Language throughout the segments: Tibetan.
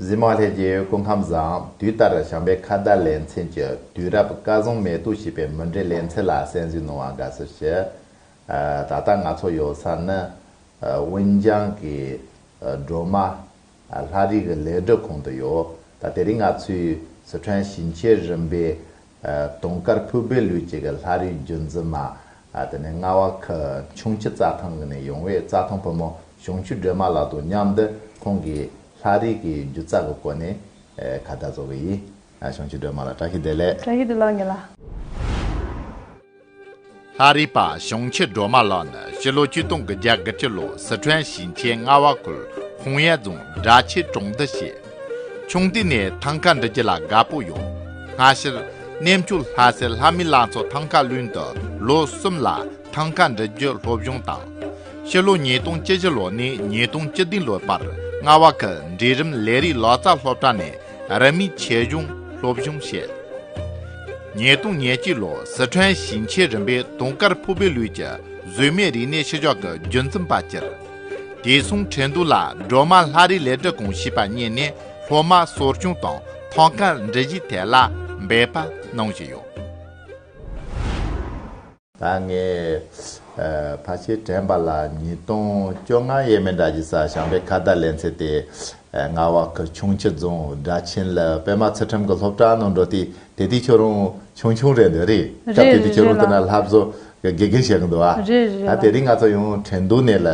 གཟིག་མོ་ལྷས་ཀྱི་སྐུ་ཁམས་བཟང། དུས་ལྟར་བྱམས་པའི་ཁ་བརྡ་ལེ་ཚན་གྱི་དུས་རབས་བཀའ་བཟང་མེ་ཏོག་ཞེས་པའི་མུ་འབྲེལ་ལེ་ཚན་ལ་གསན་གཟིགས་གནང་བར་དགའ་བསུ་ཞུ། ད་ལྟ་ང་ཚོ་ཡོད་ས་ནི་ཝུན་ཅང་གི་སྒྲོལ་མ་ལྷ་རིས་ཀྱི་ལས་སྒྲུབ་ཁང་དུ་ཡོད། ད་དེ་རིང་ང་ཚོས་སི་ཁྲོན་ཞིང་ཆེན་རིམ་པའི་དུང་དཀར་ཕུག་སྦས་ལུས་སྐྱེས་ཀྱི་ལྷ་རིས་རྒྱུད་འཛིན་མ། དེ་ནས་རྔ་བ་ཁུལ་ཆུང་ཁྱི་རྩྭ་ཐང་གི་ནས་ཡོང་བའི་རྩྭ་ཐང་བུ་མོ་གཞུང་ཆུ་སྒྲོལ་མ་ལགས་དང་མཉམ་དུ་ཁོང་གིས་ལྷ་རིས་ཀྱི་རྒྱུ་རྩལ་གྱི་སྐོར་ནས་ཁ་བརྡ་བཟོ་གི་ཡིན། གཞུང་ཆུ་སྒྲོལ་མ་ལགས་བཀྲ་ཤིས་བདེ་ལེགས། བཀྲ་ཤིས་བདེ་ལགས་ངེད་ལ། ལྷ་རིས་པ་ཞིང་ཆེན་སྒྲོལ་མ་ལགས་ནི་ཕྱི་ལོ་བཅུ་སྟོང་གི་རྒྱ་གར་གྱི་ལོ་སི་ཁྲོན་ཞིང་ཆེན་རྔ་བ་ཁུལ་ཧུང་ཡན་རྫོང་སྦྲ་ཆེན་གྲོང་སྡེ་བྱེད། ཆུང་དུས་ནས་ཐང་ག་འབྲི་རྒྱུ་ལ་དགའ་པོ་ཡོད། སྔ་ཕྱིར་གནས་མཆོག་ལྷ་སའི་ལྷ་མི་ལང་ཚོ་ཐང་ག་ལུན་དུ་ལོ་གསུམ་ལ་ཐང་ག་འབྲི་རྒྱུ་སློབ་སྦྱོང་དང། ཕྱི་ལོ་ཉིས་སྟོང་བཅུ་བཞི་ལོ་ནས་ཉིས་སྟོང་བཅུ་བདུན་ལོའི་བར་རྔ་བ་ཁུལ་འབྲིང་རིམ་ལས་རིགས་ལག་རྩལ་སློབ་གྲྭ་ནས་རབ་མི་ཆེ་གཞུང་སློབ་གཞུང་བཤད། ཉིས་སྟོང་ཉེར་གཅིག་ལོར་སི་ཁྲོན་ཞིང་ཆེན་རིམ་པའི་དུང་དཀར་ཕུག་པའི་ལུས་ཀྱི་གཟུགས་མེད་རིག་གནས་ཕྱི་ཕྱོགས་ཀྱི་རྒྱུན་འཛིན་པ་གྱུར། དེ་མཚུངས་ཁྲེན་ཏུའུ་ལ་སྒྲོལ་མ་ལྷ་རིས་ལས་བྲེལ་གོང་བྱིས་པ་རྙེད་ནས་སློབ་མ་གསོ་སྐྱོང་དང་ཐང་ག་འབྲི་གཞིའི་ཐད་ལ་འབད་པ་གནང་བཞིན་ཡོད། ད་ངས་ཕ་ཆེ་དྲན་པ་ལ་ཉིས་སྟོང་བཅོ་ལྔ་ཡས་མས་འདྲ་གྱི་སར་ཞང་པའི་ཁ་བརྡ་ལེན་ཚེ་དེ་རྔ་བ་ཁུལ་ཁྱུང་ཁྱི་རྫོང་སྦྲ་ཆེན་ལ་པད་མ་ཚུལ་ཁྲིམས་ཀྱི་སློབ་གྲྭ་ནང་འགྲོ་དུས་དེ་དུས་ཁྱོད་རང་ཆུང་ཆུང་རེད་འདོད་རེད་སྐབས་དེ་དུས་ཁྱོད་རང་དེ་ན་ལྷ་བཟོ་གི་དགེ་རྒན་བྱེད་གི་འདུག་ཨ་ད་དེ་རིང་ང་ཚོ་ཡང་དྲན་གདུང་ནད་ལ་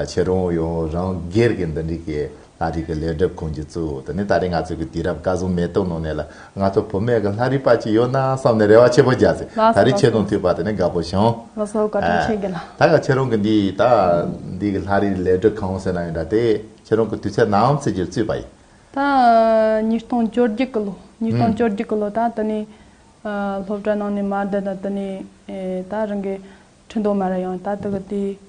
ཆེ་རོང་ཡོ་རང་སྒེར་གྱི་འདི་འདྲི་གི་ལྷ་རིས་ཀྱི་ལས་སྒྲུབ་ཁུངས་ཀྱི་གཙོ་བོ་དེ་ནི་ད་རེས་ང་ཚོ་གི་དུས་རབས་བཀའ་ཟུང་མེ་ཏོག་ནང་ནས་ལ་ང་ཚོ་བུ་མེད་གི་ལྷ་རིས་པ་ཅིག་ཡོད་ན་བསམ་ནས་རེ་བ་ཆེ་པོ་རྒྱག་ཟིན་ད་རེས་ཆེ་རོང་མཐུས་པ་དེ་ནི་དགའ་པོ་བྱུང། ལོ་སོ་བཀའ་དྲིན་ཆེ་གི་ལ། ད་ག་ཆེ་རོང་གི་འདི་ད་འདི་གི་ལྷ་རིས་ལས་སྒྲུབ་ཁང་ཟེར་ན་ཡོད་འདྲ་དེ་ཆེ་རོང་གི་དུས་ཚད་ནམ་ཚེ་རྒྱུར་བཙུད་པ་ཡིན། ད་ཉིས་སྟོང་བཅོ་བརྒྱད་གི་ལོ་ཉིས་སྟོང་བཅོ་བརྒྱད་གི་ལོ་ད་དེ་ནི་སློབ་གྲྭ་ནང་ནས་མར་བསྡད་ད་དེ་ནི་ད་རང་གི་ཁྲི་མདོ་མ་རེད་ཡང་ད་དེ་གི་དུས།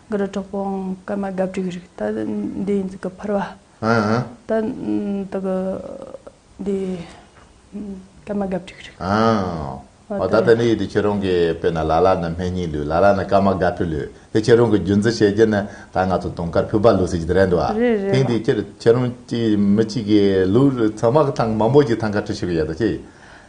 དགུ་རུ་གྲོགས་པོ་འང་སྐར་མ་གབ་དྲུག་རིགས་ད་འདི་ཡིན་ཚིག་གི་ཕུར་བ། ད་འདི་གི་འདི་སྐར་མ་གབ་དྲུག་རིགས། འོ་ད་ད་ནི་ཡོད་དུས་ཁྱེད་རང་གིས་དཔེར་ན་ལ་ལ་ནི་སྨན་སྙིང་ལུས་ལ་ལ་ནི་སྐར་མ་གབ་དྲུག་ལུས་དེ་ཁྱེད་རང་གིས་རྒྱུན་འཛིན་བྱེད་རྒྱུ་ནི་ད་ང་ཚོ་དུང་དཀར་ཕུར་པ་ལུས་ཟེར་གྱི་དེ་རེད་འདུག་བ། རེད་རེད་ཐེངས་འདིའི་ཁྱེད་རང་གཅིག་མི་གཅིག་གིས་ལུས་ཚང་མ་གི་ཐང་མང་པོ་ཞིག་ཐང་ཀ་བྲི་ཤོར་གྱི་ཡ་ད་ཅི།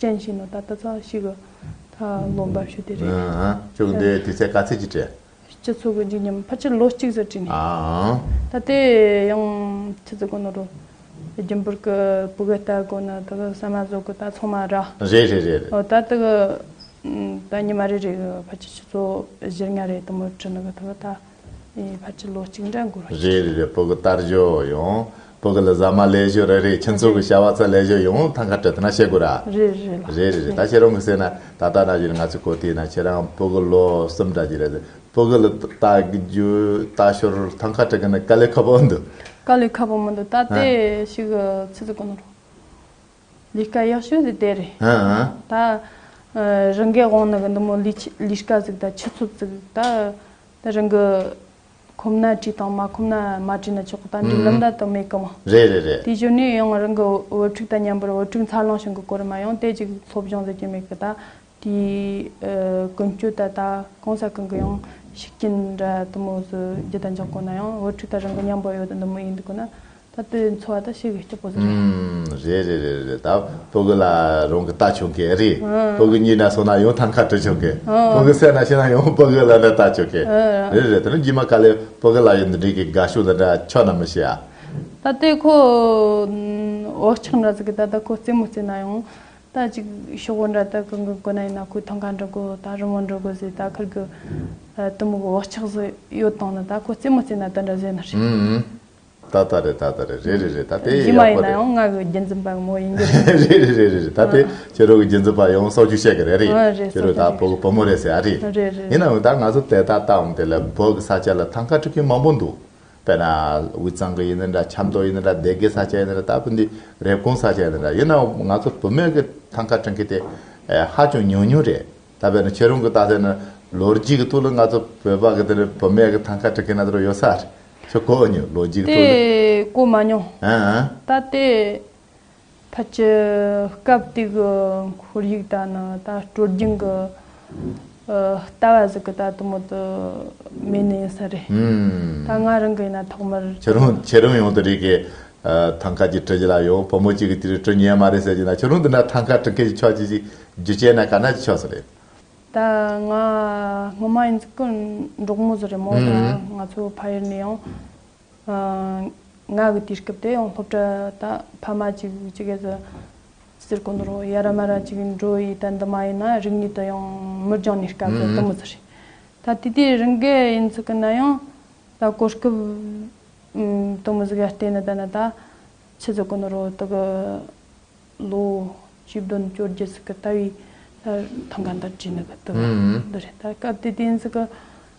ཅན་ཞིག་ནོ་ད་ལྟ་ཚ་བ་ཞིག་གི་ལོ་འབབ་ཞོ་དེ་རེད། ཅུང་འདི་དུས་ཚད་དཀའ་ཚེགས་ཀྱིས་བྲལ། སྤྱི་ཚོགས་ཀྱི་འཇིགས་ཉམས་ཕར་ཆེར་ལོ་གཅིག་ཟེར་བྲིས་ནས། ད་དེ་ཡང་ཆུ་ཚོད་དགུ་ནོ་རུ། རྒྱུན་པོར་གི་བུ་གའི་རྟ་དགོ་ན་ད་གི་ཟ་མ་བཟོ་གི་རྟ་ཚང་མ་ར། རེད་རེད་རེད་རེད། ད་ད་གི་ད་ཉི་མ་རེ་རེ་གི་ཕར་ཆེར་ཆུ་ཚོད་བཞིར་ལྔ་རེ་དུ་མོ་བྲི་ན་གི་ད་གི་ད། ཨེ་ཕར་ཆུ་ལོ་གཅིག་འདྲ་འགོར། རེད་རེད་རེད་སྤོ་གི་ལྟར་བཞོ་ཡོང། སྤོ་གི་ལ་ཟ་མ་ལས་བཞོ་རེད་རེད་ཁྱིན་ཚོ་གི་བྱ་བ་ཚ་ལས་བཞོ་ཡོང་ཐང་ཁ་བྲལ་ཐུ་ན་བཤད་དགོས་ར། རེད་རེད་རེད་ལ། རེད་རེད་རེད་ད་ཁྱེད་རང་གི་སེ་ན་ད་ལྟ་ན་བཞིན་ང་ཚོས་གོ་ཐིས་ན་ཁྱེད་རང་སྤོ་གི་ལོ་གསུམ་འདྲ་གྱི་རེད་ཟེར་སྤོ་གི་ལ་ལྟ་རྒྱུ་ལྟ་ཞོར་ཐང་ཁ་བྲལ་གི་ན་དཀའ་ལས་ཁ་པོ་འདུག། དཀའ་ལས་ཁ་པོ་མི་འདུག་ད་ལྟའི་ཞིག་ཚིག་ཚིག་གོ་ནོར། ལས་ཀ་ཡག་ཤོས་ཟིག་དེ་རེད། ད། རང་གའི་དབང་ནི་གི་འདི་མོ་ལས་ཀ་ཟིག་དང་ཆུ་ཚོད་ཟིག་ད། ད་རང་གི། ཁོམ་ན་བྲིས་དང་མ་ཁོམ་ན་མ་བྲིས་ན་ཆོག་གི་ད་འབྲུག་ལམ་ད་དུ་མེད་གི་མ། རེད་རེད་རེད། དེ་གཞོན་ནུས་ཡང་རང་གི་འོད་འཕྲུག་དང་མཉམ་པར་འོད་འཕྲུག་འཚར་ལོངས་བྱུང་གི་སྐོར་མ་ཡང་དེ་ཅིག་སློབ་སྦྱོང་ཟེར་གྱི་མེད་གི་ད། དེའི་ཀུན་སྤྱོད་ད་ལྟ་གང་ཟག་གང་གི་ཡང་ཤུགས་རྐྱེན་འདྲ་དུ་མོ་སུ་རྒྱུ་དང་འཇོག་དགོས་ན་ཡང་བུ་ཕྲུག་དང་རང་གི་མཉམ་པོ་ཡོད་དུ་འདི་མོ་ཡིན་འདུག་ན་ད་ལྟའི་འཚོ་བ་དང་ཤེས་གི་སྐྱོ་པོ་སུ་རེད། རེད་རེད་རེད་རེད་ད་བུ་གུ་ལ་རང་གི་ལྟ་ཆོག་གི་རེད་བུ་གུ་གཉིད་ན་སོང་ན་ཡང་ཐང་ཁ་དྲུད་ཆོག་གི་བུ་གུ་སད་ན་ཤི་ན་ཡང་བུ་གུ་ལ་འདྲ་ལྟ་ཆོག་གི་རེད་རེད་དེ་ནི་རྒྱུས་མ་ག་ལེར་བུ་གུ་ལ་ཡང་འདི་འདྲའི་གི་དགའ་ཤོས་འདི་འདྲ་ཆོག་ན་མི་ཤེས་ཨ། ད་ལྟའི་ཁོ་འོ་ཆག་འདྲ་ཟིག་གི་ད་ལྟ་ཁོ་རྩེད་མོ་རྩེད་ན་ཡང་ད་ཅིག་ཤོག་བུ་འདྲ་དག་གི་མགོན་པོ་ན་ཡིན་ན་ཁོའི་ཐང་ག་འདྲ་དགོས་དང་རི་མོ་འདྲ་དགོས་ཟེར་ད་ཁུར་དགོས། གཏི་མུག་འོག་ཆགས་སུ་ཡོད་དང་ན་ད་ཁོ་རྩེད་མོ་རྩེད་ན་དེ་འདྲ་བཟོས་ན་རེད། ཨུ་ཨུ། ད་ད་རེད་ད་ད་རེད་རེད་རེད་རེད་ད་དེ་ཡག་པོ་རེད། རྗེས་མ་ཡིན་ན་ཡང་ང་གི་རྒྱུན་འཛིན་པ་མོ་ཡིན་གྱི་རེད། རེད་རེད་རེད་རེད་ད་དེ་ཁྱེད་རང་གི་རྒྱུན་འཛིན་པ་ཡང་སྲོག་ཆུ་ཤེས་གི་རེད་རེད། རེད་ཁྱེད་རང་ད་སྲོག་ཆུ་བོད་ཀྱི་བུ་མོ་རེད་ཟེར་ཡ་རེད། རེད་རེད་རེད། ཡིན་ནའང་ད་ང་ཚོ་དེ་ད་ལྟའང་དེ་ལ་བོད་ཀྱི་ས་ཆ་ལ་ཐང་ག་འཁྲིད་མཁན་མང་པོ་འདུག་དཔེར་ན། དབུས་གཙང་གི་ཡིན་ན་འདྲ་ཆབ་མདོ་ཡིན་ན་འདྲ་སྡེ་དགེ་ས་ཆ་ཡིན་ན་འདྲ་ད་བུ་འདི་རེབ་གོང་ས་ཆ་ཡིན་ན་འདྲ་ཡིན་ནའང་ང་ཚོ་བུ་མོས་ཀྱི་ཐང་ཁ་བྲིང་ཁི་དེ་ཧ་ཅང་ཉུང་ཉུང་རེད། ད་དཔེར་ན་ཁྱེད་རང་གིས་བལྟ་ས་ན་ལོ་རྒྱུས་ཀྱི་ཐུགས་ལ་ང་ཚོ་བོད་པ་གི་དེར་བུ་མོས་ཀྱི་ཐང་ཁ་བྲིང་ཁི་ན་དེ་རུ་ཡོད་ས་རེད་ཁྱོད་གོ་མྱོང་ལོ་རྒྱུས་ཀྱི་ཐུགས་ལ། དེ་གོ་མ་མྱོང། ད་དེ། ཕལ་ཆེར་སྐབས་དེ་གི་ཁོར་ཡུག་ལྟར་ན་ད་སྤྲོ་སྦྱིན་གྱི་ལྟ་བ་ཟིག་གི་ད་དུ་མོ་དུ་མེད་ནི་ཡིན་ས་རེད། ད་ང་རང་གི་ཡིན་ན་ཐོག་མར། ཁྱོད་རང་ཁྱེད་རང་ཡོང་དུ་རེད་ཀྱི། ཐང་ཁ་ཅིག་སྤྲོ་རྒྱུ་ལ་ཡོང་བུ་མོ་གཅིག་གི་དེ་རུ་སྤྲོ་ཉན་མ་རེད་ཟེར་གྱི་ན་ཁྱོད་རང་དེ་འདྲ་ཐང་ཁ་སྤྲོ་མཁན་གྱི་ཕྱོགས་ཅི་ཞིག་རྒྱུ་བྱས་ན་ག་ན་ཅི་ཆོག་ས་རེད། ད་ང་སྔོན་མ་ཡིན་ཙི་ཀི་འབྲོག་མོ་ཟི་རེད་མོ་ད་ང་ཚོ་ཕ་ཡུལ་ནས་ཡང། ང་གི་དུས་སྐབས་དེ་ཡང་སློབ་གྲྭ་དང་ཕ་མ་གཅིག་གཅིག་གི་ཟུར་གོང་དུ་ཡ་ར་མ་ར་གཅིག་འགྲོ་ཡི་ད་འདི་མ་ཡིན་ན་རིག་ནུས་དང་ཡང་མི་སྦྱང་ནུས་སྐབས་དེ་དུམ་བུ་ཚུར་ཤིག་ད་དུས་དེའི་རིང་གི་ཡིན་ཚུལ་གི་ན་ཡང་ད་གོ་སྐབས་དུམ་བུ་ཟིག་ཡར་བལྟས་ན་ད་ན་ད་ཕྱི་ཟུར་གོང་དུ་དག་གི་ལོ་བཅུ་བདུན་བཅོ་བརྒྱད་ཟིག་གི་ལྟ་བའི་ཐང་ག་འདིར་བྲིས་ནས་ད་དུམ་བུ་འདི་རེད་ད་སྐབས་དེ་དུས་ཡིན་ཚུལ་གི་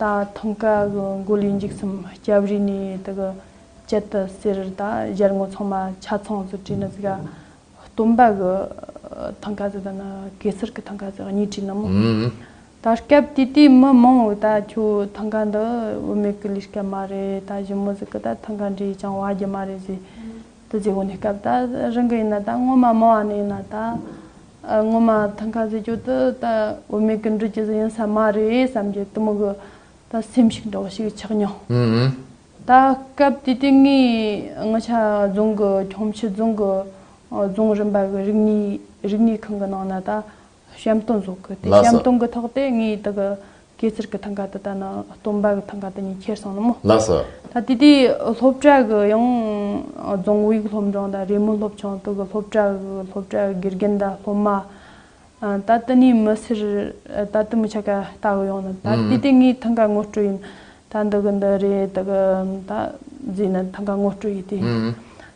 ད་ཐུང་ཀ་གི་མགོ་ལུས་འཇིགས་སུམ་སྐྱབས་རི་ནི་དི་གི་བཅད་དི་སེར་ད་གཞར་ངོ་ཚང་མ་ཆ་ཚང་ཟུ་དྲི་ནི་ཟི་ག་སྟོན་པ་གི་ཐང་ཀ་ཟི་ད་ནི་གེ་སར་གི་ཐང་ཀ་ཟི་གཉིས་དྲི་ན་མོ་ད་སྐབས་དུས་དུས་མི་མང་བོ་ད་ཁྱོ་ཐང་ཀ་འདི་བུ་མེད་གི་ལུས་སྐལ་མ་རེད་ད་བཞི་མོ་ཟི་གི་ད་ཐང་ཀ་འདྲི་ཅང་བ་རྒྱུ་མ་རེད་ཟི། དུ་བརྗེ་བོ་ནི་སྐབས་དང་རིང་གི་ཡིན་ན་དང་སྔོན་མ་མང་བ་ནས་ཡིན་ན་དང། སྔོན་མ་ཐང་ཁ་ཟེར་གྱོད་དུ་ད་འོས་མེད་ཀི་འགྲུལ་གྱི་ཟེར་ཡིན་ས་མ་རེད་བསམ་གྱི་གཏི་མུག་གི་ད་སེམས་ཤིག་འདྲ་བོ་ཞིག་ཆགས་མྱོང། ད་སྐབས་དུས་དེ་ངའི་ངོ་ཆ་རྫོང་གི་ཁྱོང་ཕྱི་རྫོང་གི་རྫོང་རིམ་པ་གི་རིག་གནས་རིག་གནས་ཁང་གི་ནང་ན་ད་བཤམས་སྟོན་བཟོ་དགོས་ཏེ་བཤམས་སྟོན་གྱི་ཐོག་དེ་ངའི་དག་གི་སྐེ་ཚེར་གྱི་ཐང་ག་དེ་དག་ནི་སྟོན་པ་གྱི་ཐང་ག་དེ་ཉིད་ཁྱེར་སོང་སྣང་མོད། ད་ལྟའི་དུས་སློབ་གྲྭ་གི་ཡང་རྫོང་དབུས་སློབ་འབྲིང་དང་རེས་མོས་སློབ་ཆུང་དག་གི་སློབ་གྲྭ་གི་སློབ་གྲྭའི་དགེ་རྒན་དང་སློབ་མ་ད་ལྟ་ནས་མི་སེར་ད་ལྟའི་མི་ཆ་ག་ལྟ་གི་ཡོང་ནི་ད་ལྟའི་དེ་ངའི་ཐང་ག་ངོ་སྤྲོད་ཡིན། ད་འདི་གི་འདི་རེད་དག་གི་ད་འཛིན་ནི་ཐང་ག་ངོ་སྤྲོད་ཡིན་ཏེ།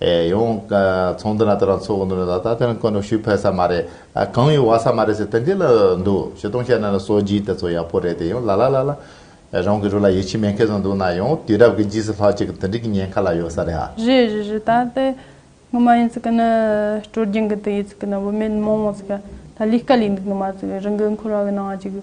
ཨེ་ཡོང། ཚོང་འདུ་ན་དེ་རང་ཚོ་འོང་དུ་མེད་ད་ད་དེ་རང་ཀོན་ནོ་ཞུ་ཕོད་ས་མ་རེད། གང་ཡོད་བ་ས་མ་རེད་ཟེར་དེ་འདི་ལ་འདུག་བྱེད་སྟོང་བཤད་ན་ལ་སོ་རྗེས་དེ་ཚོ་ཡག་པོ་རེད་དེ་ཡོང་ལ་ལ་ལ་ལ། རང་གི་རུ་ལ་ཡིད་ཆེས་མེད་མཁན་ཚོ་འདུག་ན་ཡོང་དུས་རབས་ཀྱི་རྗེས་སུ་ལྷག་ཅིག་གི་དེ་འདྲི་གི་ཉེན་ཁ་ལ་ཡོད་ས་རེད་ཨ། རེད་རེད་རེད་ད་དེ་ངོ་མ་ཡིན་ཚིག་གི་ན་སྤྲོ་རྒྱིང་གི་དེ་ཡིན་ཚིག་གི་ན་བུད་མེད་མོང་མོང་ཚིག་གི་ད་ལུས་དཀའ་ལུས་འདུག་ནི་མ་ཚིག་རི་འགུལ་འཁོར་བ་གི་ནང་ཅིག།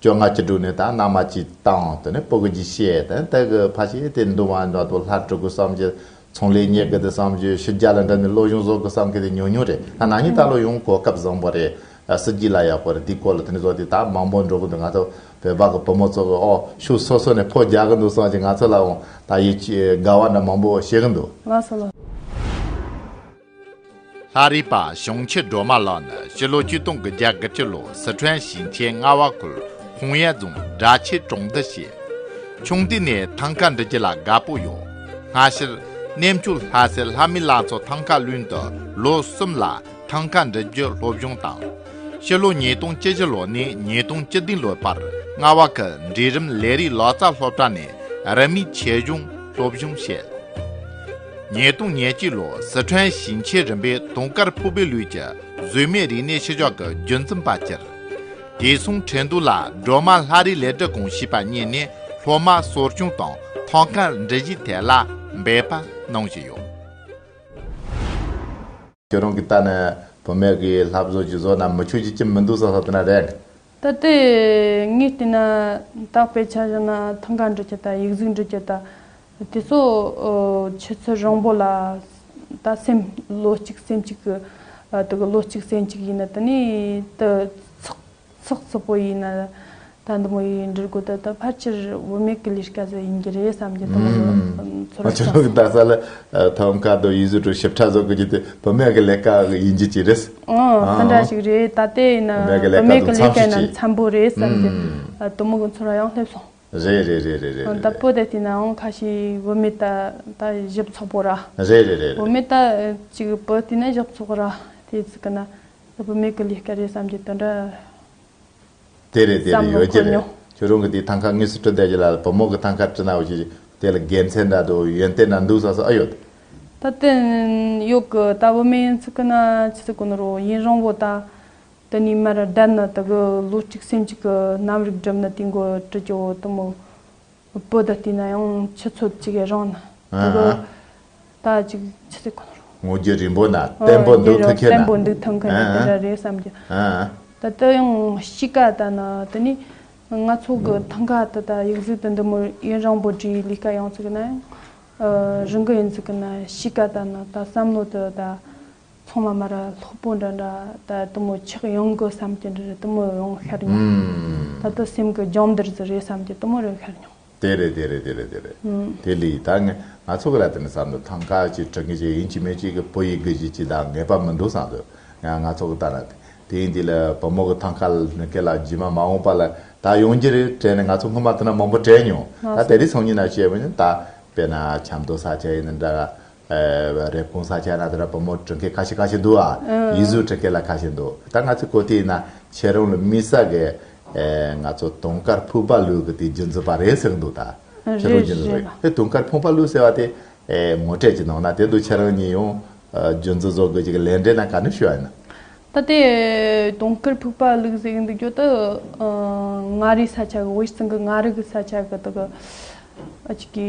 བཅོ་ལྔ་བཅུ་དྲུག་ནི་དག་སྣང་མ་སྤྱི་དང་དུ་ནི་པོ་གི་རྒྱུད་བཤད་དང་དེ་གི་ཕ་བཤད་དེ་འདུལ་བ་འདྲ་དུ་ལྷ་དྲུག་གི་བསམ་གྱིས་ཚོང་ལས་གཉེར་གི་དེ་བསམ་གྱིས་ཕྱི་རྒྱ་ལ་འགྲིམས་ནས་བློ་གཞུང་བཟོ་གི་བསམ་གི་དེ་ཉུང་ཉུང་རེད་ད་ནང་ཉིན་ད་ལོ་ཡང་གོ་སྐབས་བཟང་པོ་རེད་སྲིད་སྐྱིད་ལ་ཡག་པོ་རེད་དེའི་སྐོར་ལ་དུ་ནི་བཟོ་དེ་དག་མང་པོ་འགྲོ་གི་འདུག་ང་ཚོ་བོད་པ་གི་བུ་མོ་ཚོ་གི་ཨོ་ཕྱུགས་སོ་སོ་ནས་ཕོ་རྒྱག་གི་འདུག་བསམ་གྱིས་ང་ཚོ་ལའང་ད་ཡི་དགའ་བ་འདྲ་མང་པོ་བཤད་གི་འདུག། ང་ཚོ་ལ། ལྷ་རིས་པ་ཞང་ཆེ་སྒྲོལ་མ་ལགས་ནི་སྤྱི་ལོ་བཅུ་སྟོང་གི་རྒྱ་དགུ་སྤྱི་ལོ་སི་ཁྲོན་ཞིང་ཆེན་རྔ་བ་ཁུལ་ཧུང་ཡན་རྫོང་སྦྲ་ཆེ་གྲོང་སྡེ་ཞེས། ཆུང་དུས་ནས་ཐང་ག་འབྲི་རྒྱུ་ལ་དགའ་པོ་ཡོད། སྔ་ཕྱིར། གནས་མཆོག་ལྷ་སའི་ལྷ་མི་ལགས་ཚོ་ཐང་ག་བླུན་དུ་ལོ་གསུམ་ལ་ཐང་ག་འབྲི་རྒྱུ་སློབ་སྦྱོང་དང། སྤྱི་ལོ་ཉིས་སྟོང་བཅུ་བཞི་ལོ་ནས་ཉིས་སྟོང་བཅུ་བདུན་ལོའི་བར་རྔ་བ་ཁུལ་འབྲིང་རིམ་ལས་རིགས་ལག་རྩལ་སློབ་གྲྭ་ནས་རིན་མེད་ཆེ་གཞུང་སློབ་སྦྱོང་བྱས། ཉིས་སྟོང་ཉེར་གཅིག་ལོར་ཟི་ཁྲོན་ཞིང་ཆེན་རིམ་པའི་དུང་དཀར་ཕུག་པའི་ལུས་ཀྱི་གཟུགས་མེད་རིག་གནས་ཤུལ་བཞག་གི་རྒྱུན་འཛིན་པ་གྱུར། དེ་མཚུངས་ཁྲེན་ཏུའུ་ལ་སྒྲོལ་མ་ལྷ་རིས་ལས་བྲིས་སྐོང་བྱས་པ་རྙེད་ནས་སློབ་མ་གསོ་སྐྱོང་དང་ཐང་དཀར་འབྲི་གཞིའི་ཐད་ལ་འབད་པ་གནང་བཞིན་ཡོད། ཁྱོད་རང་གིས་ལྟ་ནས་བུད་མེད་ཀྱི་ལྷ་བཟོ་བྱི་བཟོ་རྣམས་མི་ཆོས་ཀྱི་ཁྱིམ་མི་འདུག་ས་ས་དེ་ན་རེད། ད་ལྟའི་ངའི་ལྟས་ན་དག་པའི་ཆ་བཞག་ན་ཐང་ག་འབྲི་ཁྱེར་དང་ཡིག་གཟུགས་འབྲི་ཁྱེར་དང་དེ་སོགས་ཆུ་ཚོད་རིང་པོ་ལ་ད་སེམས་ལོ་གཅིག་སེམས་གཅིག་གི་དུ་གི་ལོ་གཅིག་སེམས་གཅིག་ཡིན་ན་དེ་ནས་དུ་ཚགས། ཚོགས་གཙོ་པོ་ཡིན་ན་ད་འདི་མོ་ཡིས་འབྲི་དགོས་ད་ད་ཕལ་ཆེར་བུད་མེད་ཀྱི་ལས་ཀ་ཟེར་ཡིན་གྱི་རེད་བསམ་གྱི་ཐོག་མར་ཚོར་བ་ཆགས་སོང། ཕལ་ཆེར་ནང་ས་ལ་ཐོག་མཁའ་འགྲོ་ཡིས་ཟུར་དྲུག་ཞིབ་ཕྲ་བཟོ་དགོས་ཀྱི་དེ་བུད་མེད་ཀྱི་ལས་ཀ་ཡིན་གྱི་ཅི་རེད། འང་དེ་འདྲ་ཞིག་རེད་ད་ལྟའི་ཡིན་ན་བུད་མེད་ཀྱི་ལས་ཀའི་ནང་འཚམས་པོ་རེད་བསམ་གྱི་དོ་མོ་གི་ཚོར་བ་ཡང་སླེབས་སོང། རེད་རེད་རེད་རེད་རེད། ད་བོད་དེ་བལྟས་ན་འང་ཁ་ཤས་བུད་མེད་ད་ད་ཞིབ་ཚོགས་པོ་ར། རེད་རེད་རེད་རེད། བུད་མེད་ད་ཅིག་བོད་བལྟས་ན་ཞིབ་ཚོགས་ར་དེ་ཚིག་གི་ན། ལྷོད་པོ་མིག་གི་ལུས་སྐད་རེད་བསམ་གྱི་དོན་འདྲ། དེ་རེད་དེ་རེད་ཡོད་ཀྱི་རེད་ཁྱོད་རང་གི་དེའི་ཐང་ཁ་དངོས་སུ་དཀྲི་བསྡད་ཀྱི་ལ་ལ་བུ་མོ་གི་ཐང་ཁ་དཀྲི་ན་འོ་ཞིག་དེ་ལ་དགེ་མཚན་འདྲ་འདུག་ཡོན་ཏན་འདྲ་འདུག་ས་སོགས་ཨེ་ཡོད། ད་བསྟན་ཡོད་གི་ད་བུ་མེད་ཡིན་ཚུལ་གི་ན་ཅི་ཟེར་གོ་ནི་རོགས་ཡིན་རང་བོ་ད་དེ་ནས་མར་བསྡད་ན་ད་གི་ལོ་གཅིག་སེམས་གཅིག་གི་རྣམ་རིག་སྒྲིབ་ན་དེའི་མགོ་དཀྲི་ཀྱི་འོ་དུམ་མོ། བུ་དང་བསྟུན་ན་ཡང་ཆུ་ཚོད་གཅིག་ཡི་རང་ན་འདུག་གོ། ད་ཅིག་ཆུ་ཚོད་གང་རུང། ངོ་རྒྱུ་རིང་པོ་ན་བརྟན་པོ་འདུག་ཐུག་མཁན་ན། འོ་རྒྱུ་རང་བརྟན་པོ་འདུག་ཐུག་མཁན་ན་དེ་འདྲ་རེད་བསམ་རྒྱུ། ད་ལྟ་ཡང་དཔྱིད་ཀ་ད་ན་དེ་ནི་ང་ཚོ་གི་ཐང་ག་ད་ལྟ་ཡིག་གཟུགས་དང་འདི་མུར་ཡུན་རིང་པོ་འབྲི་ཡི་ལས་ཀ་ཡོང་ཚུགས་ན་ཡང་རུང་གི་ཡིན་ཚུགས་ན་དཔྱིད་ཀ་ད་ན་ད་བསམ་བློ་དེ་ད། ཚང་མ་མ་ར་སློག་པོ་འདྲ་འདྲ་ད་དུ་མོ་ཆགས་ཡོང་དགོས་བསམ་གྱི་འདྲ་རེད་དུ་མོ་ཡོང་ཤར་མྱོང་ད་དུ་སེམས་ཀྱི་འཇམ་དར་ཟི་རེད་བསམ་གྱི་དུ་མོ་རེད་ཤར་མྱོང། དེ་རེད་དེ་རེད་དེ་རེད་དེ་རེད་དེ་ལི་ད་ང་ཚོ་གི་ལ་དེ་ནི་བསམ་དུ་ཐང་ཁ་ཅིག་དྲི་ངེས་ཅིག་ཡིན་གྱི་མེད་ཅིག་གི་བོད་ཡིག་དགོས་ཀྱི་ཅི་ད་ངེས་པ་མི་འདུག་བསམ་དུ་ཡང་ང་ཚོ་གི་ལྟ་ན་དེ་ཡིན་དེ་ལ་བུ་མོ་གི་ཐང་ཁ་ལ་ཁེ་ལ་ཇི་མ་མ་འོངས་པ་ལ་ད་ཡོང་གྱི་རེད་དྲན་ནས་ང་ཚོ་སྔོན་མ་དུ་ན་མང་པོ་དྲན་མྱོང་ད་དེ་རིགས་ཚང་ཉིད་ན་བཤད་མྱོང་ད་དཔེ་ན་ཆབ་མདོ་ས་ཆ་ཡིན་ན་འདྲ་རེབ་གོང་ས་ཆ་ན་དེ་འདྲ་བུ་མོ་བྲོ་མཁན་ཁ་ཤས་ཁ་ཤས་འདུག་ཨ། ཡིག་གཟུགས་བྲོ་མཁན་ལ་ཁ་ཤས་འདུག་ད་ང་ཚོའི་གོ་ཐོས་ན་ཁྱེད་རང་ལ་མི་ས་གི། ང་ཚོ་དུང་དཀར་ཕུག་པ་ལུག་གི་དེ་རྒྱུན་འཛིན་པ་རེད་ཟེར་གྱི་འདུག་ད། ཁྱེད་རང་རྒྱུན་འཛིན་རེད་དེ་དུང་དཀར་ཕུག་པ་ལུག་ཟེར་བ་དེ། ངོ་སྤྲད་ཀྱི་ནང་ན་དེ་འདུག་ཁྱེད་རང་གཉིས་ཡང། རྒྱུན་འཛིན་བཟོ་དགོས་ཀྱི་གི་ལས་འབྲས་ན་ག་ནས་ཤོད་ཨ་ཡིན་ན། ད་དེ་དུང་དཀར་ཕུག་པ་ལུག་ཟེར་གྱི་འདུག་གྱོད་དུ། མངའ་རིས་ས་ཆ་གི་དབུས་སྟེང་གི་མངའ་རིས་ས་ཆ་གི་དག་གི།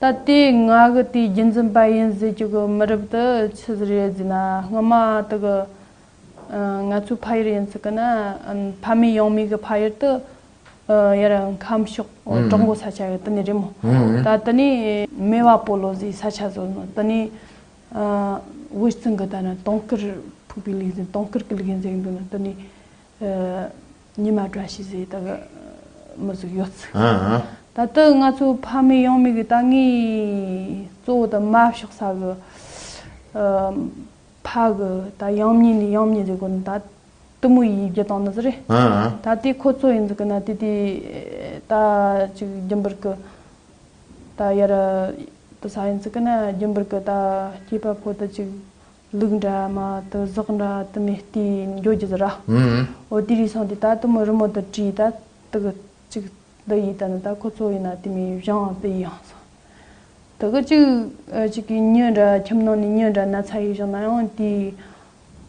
ད་ལྟའི་ང་གི་དེའི་རྒྱུན་འཛིན་པ་ཡིན་ཟེར་གྱི་གི་མི་རབས་དེ་ཆི་ཟེར་ཡོད་ཟེར་ན་སྔོན་མ་དེ་གི་ང་ཚོའི་ཕ་ཡུལ་ཡིན་ཟེར་གི་ན་ཕ་མེས་ཡང་མེས་གི་ཕ་ཡུལ་དུ་ཡར་ཁམས་ཕྱོགས་གྲོག་མགོ་ས་ཆ་ཡོད་དེ་ནས་རེད་མོ་ད་དེ་ནས་སྨེ་བ་པོ་ལོ་ཟེར་ས་ཆ་བཟོས་ནོ་དེ་ནས་དབུས་གཙང་གི་ད་ན་དོང་དཀར་ཕུག་པའི་ལུགས་ཡིན་དོང་དཀར་གི་ལུགས་ཡིན་ཟེར་གྱི་འདུག་ན་དེ་ནས་ཉི་མ་བཀྲ་ཤིས་ཟེར་ད་གི། མི་གཟུགས་ཡོད་ཚིག། ད་ལྟ་ང་ཚོ་ཕ་མེས་ཡང་མེས་ཀྱི་ད་ངའི་གཙོ་བོ་ད་དམའ་ཕྱོགས་ས་གི། ཕ་གི་ད་ཡང་མྱི་ནི་ཡང་མྱི་ཟེར་དགོས་ན་ད། གཏི་མུག་ཡིན་བརྒྱད་སྟོང་ན་ཟེར་རེད། ད་དེ་ཁོ་ཚོ་ཡིན་ཟེར་གི་ན་དེ་དེ། ད་ཅིག་རྒྱུན་པར་གི། ད་ཡར། ད་ས་ཡིན་ཟེར་གི་ན་རྒྱུན་པར་གི་ད་སྐྱེས་པ་ཕོ་ད་ཅིག། ལུག་འདྲ་མ་དུ་ཟོག་འདྲ་དུ་མས་ལྟས་ཡིན་འགྱོ་རྒྱུ་ཟེར་ར་འོ་དེ་རིགས་སོང་དེ་ད་དུ་མི་རུ་མོ་དུ་དྲིས་ད་དུ་གི་ཅིག་འདི་ཡིས་ད་ནི་ད་ཁོ་ཚོ་ཡིན་ན་དེ་མི་ཡིས་བཞང་བ་པི་ཡིས་ཡང་སོང་དུ་གི་ཅིག་ཅིག་གིས་མྱི་འདྲ་ཁྱིམ་ནང་ནས་མྱི་འདྲ་ན་ཚ་ཡིས་བཞང་ན་ཡང་དེའི་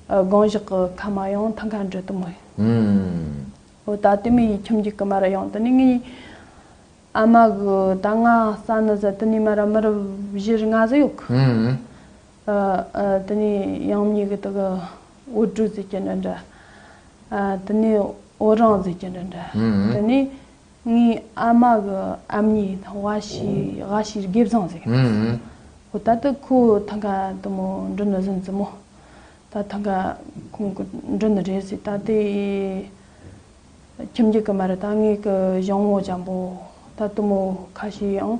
སྒང་བཞག་གི་ཁ་མ་ཡང་ཐང་ཁ་འདྲི་དུ་མི་འོ་ད་དེ་མི་ཡིས་ཁྱིམ་གྱི་ཀི་མ་ར་ཡང་དུ་ནི་ངའི་ཨ་མ་གི་ད་ང་ས་ནི་ཟ་དུ་ནི་མ་ར་མི་རུ་བཞིར་ལྔ་ཟི་ཡོག་གི། དེ་ནས་དབྱངས་ཉིད་ཀྱི་དག། འོད་སྤྲོས་ཟེར་གྱི་འདྲ་འདྲ། དེ་ནས་འོད་རང་ཟེར་གྱི་འདྲ་འདྲ། དེ་ནས་ངའི་ཨ་མ་གི་ཨ་མྱེས་དང་བ་ཞིའི་ག་ཞིའི་དགེ་བཟང་ཟེར་གྱི་འདྲ། ཁོ་ད་ལྟ་ཁོ་ཐང་ག་དུ་མོ་འགྲོ་ནི་ཟིན་ཟིན་མོ། ད་ཐང་ག་ཁོང་གི་འགྲོ་ནི་རེད་ཟེར་ད་ལྟའི་ཁྱིམ་རྒྱུད་ཀྱི་མ་རེད་ད་ངའི་གི་གཞོང་བོ་འཇམ་པོ་ད་དུ་མོ་ག་ཞིག་ཡང་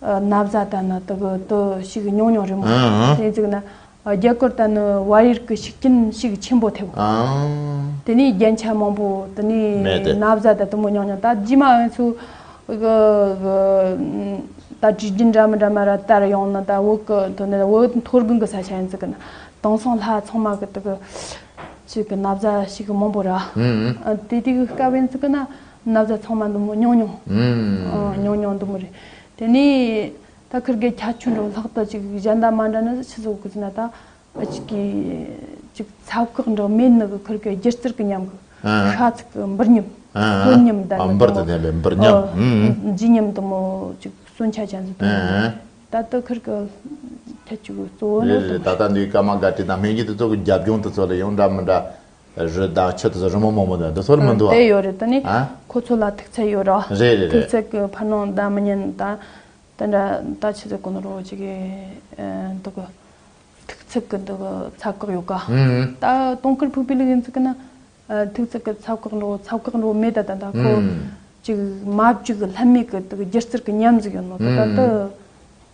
གནའ་བཟའ་ལྟ་ན་དག་གི་དུ་ཞིག་ཉུང་ཉུང་རེད་མོད། དེ་ནི་གཙུག་ན་རྒྱ་གུར་ལྟ་ནི་བར་ཡུལ་གྱི་ཤུགས་རྐྱེན་ཞིག་ཆེན་པོ་ཐེབས། དེ་ནས་རྒྱན་ཆ་མང་པོ་དུ་ནི་གནའ་བཟའ་ལྟ་དུ་མོ་ཉུང་ཉུང་ལྟ་རྗེས་མ་ཨོན་ཚུགས་གི་ལྟ་དྲི་རྒྱུན་འདྲ་མི་འདྲ་མ་ར་ལྟར་ཡོང་ནི་ལྟ་འོག་གི་དུ་ནི་འོད་མཐོ་སྒང་གི་ས་ཆ་ཡིན་ཚུལ་གྱི་ན་དང་སང་ལྷ་ཚང་མ་གི་དུ་གི་ཆུ་གི་གནའ་བཟའ་ཞིག་མང་པོ་ར་དེ་དུས་སྐབས་ཡིན་ཚུལ་གྱི་ན། ན་བཟའ་ཚང་མ་འདུག་མོ་ཉུང་ཉུང། ཉུང་ཉུང་འདུག་མོ་རེད། དེ་ནས། ད་ཁིར་གེ་ཁྱ་ཆུ་འགྲོ་ལྷག་ཏུ་ཅིག་གཞན་དག་མ་འདྲ་ན་ཕྱི་སོག་གི་ཟིན་ན་ད། ཅིག་གིས། ཅིག་ཚབ་ཁག་འདྲ་མེད་ནི་གི་ཁིར་གེ་སྒྱུ་རྩལ་གི་ཉམས་གི། ཤ་ཚིག་གི་འབུར་ཉམས། སོན་ཉམས་འདར་ནི་འདུག་མོ། འོ། ལྗིད་ཉམས་འདུག་མོ། ཅིག་སོན་ཆ་ཅན་ཟིན་འདུག་མོ་རེད། ད་ད་ཁིར་གེ། ཁྱ་ཆུ་གི་གཙོ་བོ་ནི། རེད་རེད་ད་ད་འདུག་སྐར་མ་འགའ་བྲིས་དང་སྨན་སྐྱིད་དུ་གཙོ་གི་རྒྱབ་ལྗོངས་དུ་གཙོ་ལ་ཡོང་འདྲ་མི་འདྲ། རི་དྭགས་ཁྱོད་ཚོ་རི་མོ་མང་པོ་འདུག་འདི་ཚོར་མི་འདུག་ཨ། དེ་ཡོད་རེད་དེ་ནི་ཁོ་ཚོ་ལ་ཐུགས་ཚད་ཡོད་རོ། རེད་རེད་ཐུགས་རེད། ཚད་ཀྱི་ཕར་ནང་བདག་མི་ཉན་ད། དེ་འདྲ་ད་ཁྱེད་ཚོས་གོ་ནོར་བོ་ཅིག་འདུག་གི། ཐུགས་ཚད་ཀྱི་འདུག་གི་ཚ་བཀག་ཡོད་ཀ། ད་སྟོང་སྐར་ཕུག་པའི་ལུགས་ཡིན་ཚུགས་ཀྱི་ན། ཐུགས་ཚད་ཀྱི་ཚ་བཀག་འགྲོ་ཚ་བཀག་འགྲོ་མེད་ད་ད་ད་ཁོ། ཅིག་མ་བཅུག་ལྷད་མེད་ཀྱི་འདུག་གི་སྒྱུ་རྩལ་གྱི་ཉམས་གཟིགས་ཡོད་ནོ་ད་ད་ད།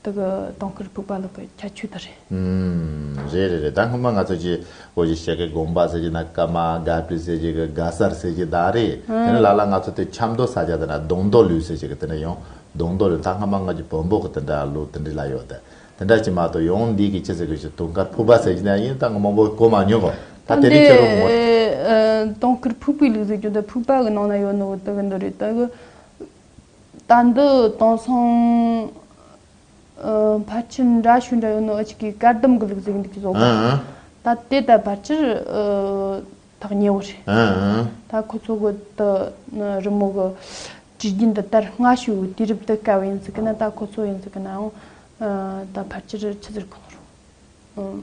དེ་གི་དོང་སྐུར་ཕུག་པ་ལོག་གི་ཁྱད་ཆོས་དེ་རེད། ཨུམ། རེད་རེད་རེད་ད་སྔོན་མ་ང་ཚོ་ཀྱི་བོད་ཀྱི་གཤེགས་ཀྱི་དགོངས་པ་ཟེར་གྱི་ན་ཀ་མ་ག་པི་ཟེར་གྱི་གི་ག་སར་ཟེར་གྱི་དང་རེད་དེ་ནས་ལ་ལ་ང་ཚོ་དེ་ཆབ་མདོ་ས་ཆ་དེ་ན་དོང་མདོ་ལུས་ཟེར་གྱི་གི་དེ་འདྲ་ཡོང་དོང་མདོ་ལུས་ད་སྔ་མ་ང་ཀྱི་བོན་པོ་གི་དེ་འདྲ་ལུགས་དེ་འདྲི་ལ་ཡོད་དེ་དེ་འདྲ་ཀྱི་མ་གཏོགས་ཡོང་འདི་གི་ཅི་ཟེར་གི་ཞིག་དོང་དཀར་ཕུག་པ་ཟེར་གྱི་ན་ཡིན་ད་སྔ་མོ་བོད་གོ་མ་མྱོང་གོ་ད་དེ་ནས་ཁྱོད་རང་ངོ། དོང་སྐུར་ཕུག་པའི་ལུགས་ཟེར་གྱི་འདི་ཕུག་པ་གི་ནང་ན་ཡོད་ནོ་དེ་གི་འདི་རེད་དེ་གི། ལྟ་འདི་དེང་སང་ཕལ་ཆེར་འདྲ་ཞུ་འདྲ་ཡོད་ནོ་འུ་ཅིག་གིས་བཀའ་གདམས་དགུ་ལུགས་གཟིགས་འདུག་བཟོ་གོ། ད་དེ་ལྟར་ཕལ་ཆེར་ཐག་ཉེ་བོ་རེད། ད་ཁོ་ཚོ་གི་དེ་ནི་རི་མོ་གི་དྲི་རྒྱུན་འདི་ལྟར་སྔ་ཤོས་ཀྱི་དུས་རབས་དེ་སྐབས་ཡིན་ཟིག་གི་ན་ད་ཁོ་ཚོ་ཡིན་ཟིག་གི་ནའང་ད་ཕལ་ཆེར་ཆི་ཟེར་གང་རུང།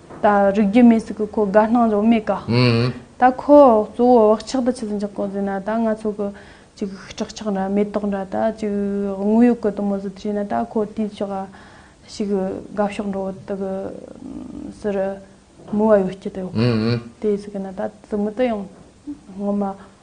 ད་རིག་རྒྱུ་མེད་ཟིག་གི་ཁོ་དགའ་སྣང་ལོ་མེད་ག། ད་ཁོ་གཙོ་བོ་བག་ཆགས་དང་ཆུ་འཇག་གོང་ཟིན་ན་ད་ང་ཚོ་གི་ཅིག་སྐྲག་ཆགས་འདྲ་མེ་ཏོག་འདྲ་ད་ཅིག་དངོས་ཡོད་གི་དུ་མོ་ཟིག་བྱས་ན་ད་ཁོ་དུས་ཤིག་ཨ་ཞིག་དགའ་ཕྱོགས་འགྲོ་དག་གི་སི་རི་མུ་བ་ཡོད་ཀྱི་དེ་ཟིག་གི་ན་ད་དུ་མུ་ཏི་ཡང་ངོ་མ་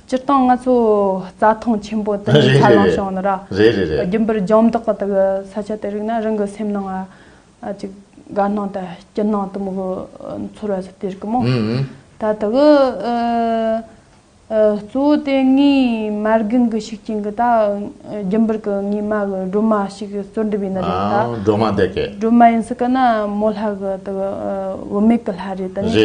སྤྱིར་བཏང་ང་ཚོ་རྩྭ་ཐང་ཆེན་པོ་འདི་ནས་ཆ་ལང་བྱུང་ཡོད་ན། རྒྱུན་པར་ལྗང་མདོག་གི་དག་ས་ཆ་དེ་རིག་ན་རང་གི་སེམས་ནང་ང་ཅིག་དགའ་སྣང་དང་སྐྱིད་སྣང་དུ་མོ་གོ་འཚོར་བ་ཞིག་སྟེར་གི་མོ། ད་ལྟ་གི་གཙོ་བོ་དེ་ངའི་མ་རྒན་གྱི་ཤུགས་རྐྱེན་གྱི་ད་རྒྱུན་པར་གྱི་ངའི་མ་གི་སྒྲོལ་མ་ཞིག་བཙོར་འགྲིབ་ཡིན་ན་རེད་ད། སྒྲོལ་མ་དེ་སྐད། སྒྲོལ་མ་ཡིན་སྲིད་གི་ན་མོ་ལྷ་གི་དག་བུད་མེད་གྱི་ལྷ་རེད་ད་ནི།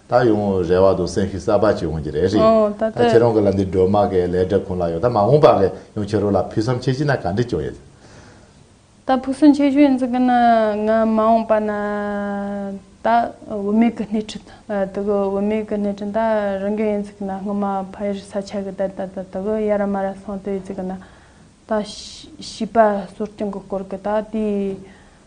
ད་ཡོང་རེ་བ་འདུག་སེམས་ཤུགས་གསར་པ་ཅིག་འོང་གི་རེད་རེད་ད་ཁྱེད་རང་གི་ལ་འདི་སྒྲོལ་མ་གི་ལས་སྒྲིབ་ཁུང་ལ་ཡོད་ད་མ་འོང་པ་གི་ཡང་ཁྱེད་རང་ལ་ཕུགས་བསམ་ཆེ་ཆེ་ན་ག་འདྲི་བྱུང་ཡོད། ད་ཕུགས་བསམ་ཆེ་ཆེ་ཡིན་ཟེར་གི་ན་ང་མ་འོང་པ་ན་ད་བུད་མེད་གི་སྣེ་ཁྲིད་དུ་གི་བུད་མེད་གི་སྣེ་ཁྲིད་ད་རང་གི་ཡིན་ཟེར་གི་ན་སྔོན་མ་ཕ་ཡུལ་ས་ཆ་གི་དེར་ད་ད་གི་ཡ་ར་མ་ར་སོང་དུས་ཟེར་གི་ན་ད་བྱིས་པ་གསོ་སྐྱོང་གི་སྐོར་གི་ད་དེའི་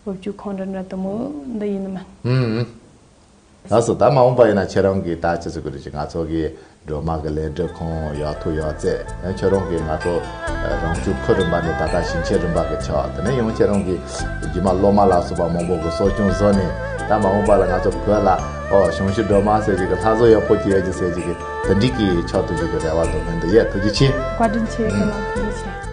སློབ་བརྒྱུད་ཁོང་རེ་འདྲ་ལྟ་མོ་འདི་ཡིན་ནི་མིན། ལགས་སོ་ད་མ་འོངས་པ་ཡིན་ན་ཁྱེད་རང་གིས་ད་ཅི་ཟེར་དགོས་རེད་ཅེས་ང་ཚོ་གི་སྒྲོལ་མ་གི་ལས་འབྲས་ཁོང་ཡག་ཐུགས་ཡག་བརྩད་ཡང་ཁྱེད་རང་གིས་ང་ཚོ་རང་བྱུང་ཁུལ་རིམ་པ་ནས་ད་ལྟ་ཞིང་ཆེན་རིམ་པ་གི་ཆགས་དེ་ནས་ཡང་ཁྱེད་རང་གིས་རྒྱུ་མ་སློབ་མ་ལ་སོགས་པ་མང་པོ་གི་གསོ་སྐྱོང་བཟོ་ནས་ད་མ་འོངས་པ་ལ་ང་ཚོ་བོད་ལ་ཨོ་གཞུང་ཞིག་སྒྲོལ་མ་ཟེར་གྱི་གི་ལྷ་བཟོ་ཡག་པོ་གྱི་ཡོད་ཀྱི་ཟེར་གྱི་གི་དེ་འདྲིས་གི་ཆགས་ཐུབ་གྱི་གི་རེ་བ་དང་ནན་དུ་ཡོད་ཐུགས་རྗེ་ཆེ། བཀའ་དྲིན་ཆེ་རྒན་ལགས་ཐུགས་རྗེ་ཆེ།